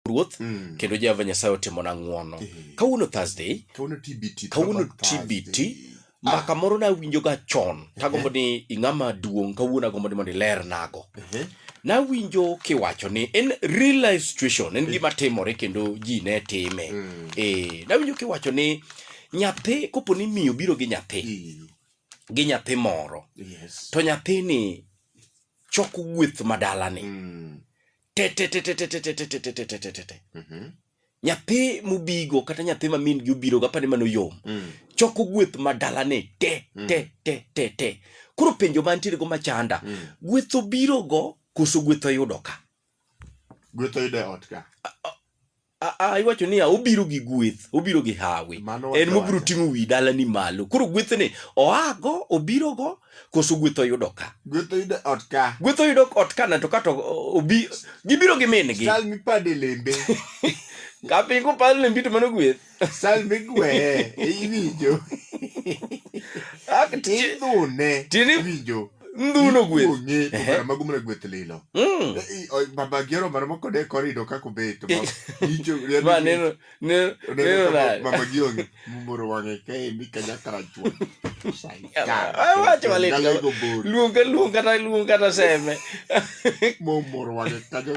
ruoth Mm. kendo jehova nyasaye otimona ng'wono Eh. kawuono thursday Kawuono TBT. Kawuono Throwback TBT. Thursday. ma kamoro nawinjoga chon tagombo ni ing'ama duong' kawuono agombo ni mondo ilernago Ehe. nawinjo kiwacho ni en real life situation en gima timore kendo ji ne time Mm. Eh, nawinjo kiwacho ni nyathi kopo ni miyo biro gi nyathi Iyo. gi nyathi moro Yes. to nyathini choko gweth madalani Mm. tetetetetetetetetetetetete Mhm. nyathi mubigo kata nyathi ma min gi obiro gapa ni mano yom Mm. choko gweth ma dalane te Mm. te te te te koro penjo mantiere go machanda Mm. gweth obirogo koso gweth oyudo ka Gweth oyudo e ot ka. Aa, iwacho niya obiro gi gweth obiro gi hawi Mano en wacho mobiro wacho. ting'o wi dalani malo koro gwethni oago obirogo koso gweth oyudo ka Gweth oyudo ot ka. gweth oyudo ot kana to kato obi gibiro gi min gi Sal mipade lembe. kapingo palo lembi to mano gweth Sal migweye. Iwinjo. Ak- Idhune. Tieni- Iwinjo. ndhu no gweth ng'e to Ehe. kara mago mana gweth lilo Mm. Eh, eh, oh, baba gero mara moko de korido kako bet ma icho ya ma neno neno neno na mama gionge mumoro wange kae ni kanya karachwa Ah, wacho malit. galego bor luong ka luong kata luong kata seme mumoro wange kanyo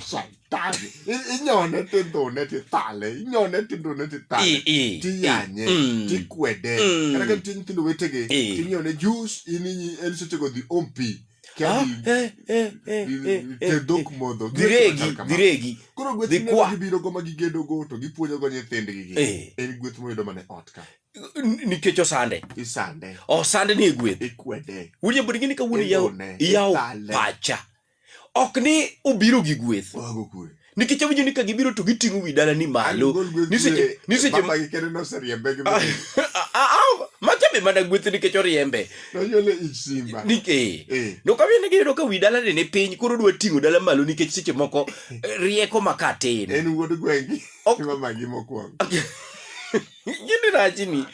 sai tale inyone ti ndhune ti tale inyone ti ndhune ti tale ti yanye mm. ti kwede mm. kata ka nitie nyithindo wetege ti nyone jus in en sechego dhi om pi ah, eh, eh, eh, dhok modho dhiregi koro gweth gibirogo ma gigedogo to gipuonjogo nyithindgigi en gweth moyudo mane ot ka nikech osande osande ni e gweth winjo bed gini ka wuon iyawo pacha ok ni obiro gi gweth Wago kwe. nikech awinjo ni ka gibiro to giting'o wi dalani malo Gol gweth ni seche kwe. ni seche Baba gi kende noseriembe gi Ah, ah, ah, machabe mana gweth nikech oriembe nonyole ich simba. Nik- eh. Eh. nokawine giyudo ka wi dalani ni piny koro dwa ting'o dala malo nikech seche moko eh, rieko maka tin En wuod gwengi. Ok- Mama gi mokwongo. Gini rachni.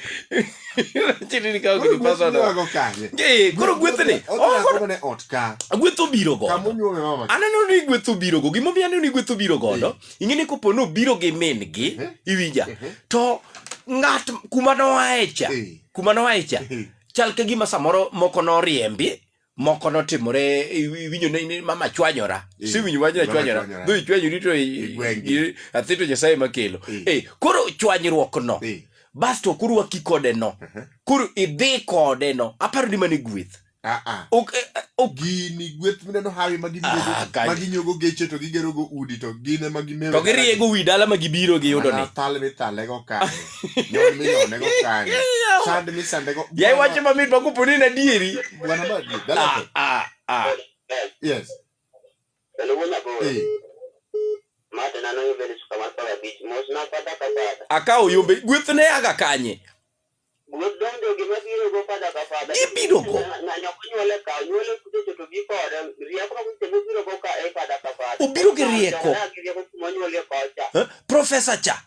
Rachni ni ka ok ipasa no. Koro kanye? Eh, koro gwethne. Oh, Odhi koro ne ot ka. gweth obiro Kama godo. onyuome mama. Aneno ni gweth obiro go. Gima omiyo aneno ni gweth obiro godo, ing'e ni kopo ni obiro gi min-gi, Mhm. iwinja, Mhm. to ng'at kuma noae cha, Eh. kuma noae cha, Eh. chal ka gima samoro moko noriembi, moko notimore iwinjo ne ne mama chwanyora Eh, siwinjo wach na mama chwanyora chwanyora. dhi chwanyori to i- Igweng' gi. i- athi to nyasaye makelo Eh. eh koro chwanyruok no Eh, basto koro waki kode no aha. koro idhi kode no aparo ni mane gweth Ah, ah. ok eh, eh, ok gini gweth mineno hawi ma gibiro- Ah, kanyo. ma ginyogo geche to gigerogo udi to gin ema gimewo to giriego wi dala ma gibiro giyudo ni Mana thal mithalego kanyo yaiwacho mamit makopo ni nadieri akawo yombe gweth ne aga kanye gibirogo obiro gi rieko profesa cha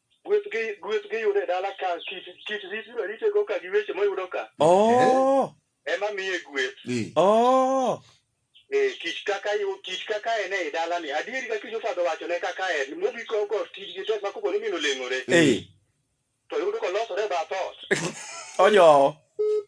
Gweth gi gweth gi yudo e dala ka kit kit rit ma rite go ka gi weche ma yudo ka Oh, ema miye gweth. Eh. oh. Eh, kich kaka yu kich kaka en e dala ni. Adieri ka kich ofadho wacho ne kaka en. Mobi ko ko tij gi tek ma kopo ni mino leng'ore. Eh, To yudo ko losore ba thot. ojowo.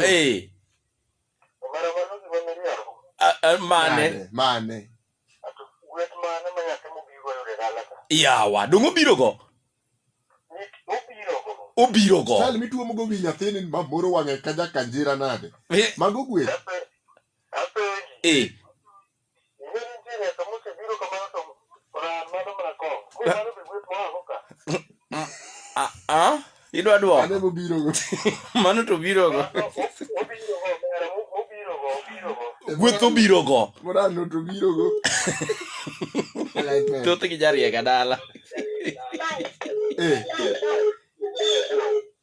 Hey. mane mane yawa donge obirogo obirogo sal mituomogo wi nyathini mamoro wang'e ka jakanjira nade mago gweth eh. Ah, ah, idwa dwoko Ane mobirogo. mano to birogo gweth obirogo Morano to birogo. Like that. thoth gi jariega dala Eh,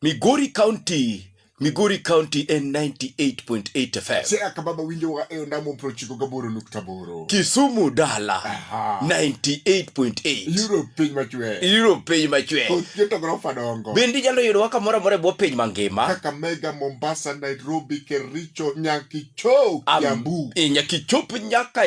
Migori County, Migori County en 98.8 FM. Siaya ka baba winjowa e ondamo prochiko gaboro nukta boro. Kisumu dala Aha. 98.8. Europe piny machwe. Iro piny machwe. Oketo gorofa dongo. Bende inyalo yudowa kamoro amora e bwo piny mangima. Kakamega, Mombasa, Nairobi, Kericho, Nyankicho, Am- Kiambu. e, Nyaka ichop nyaka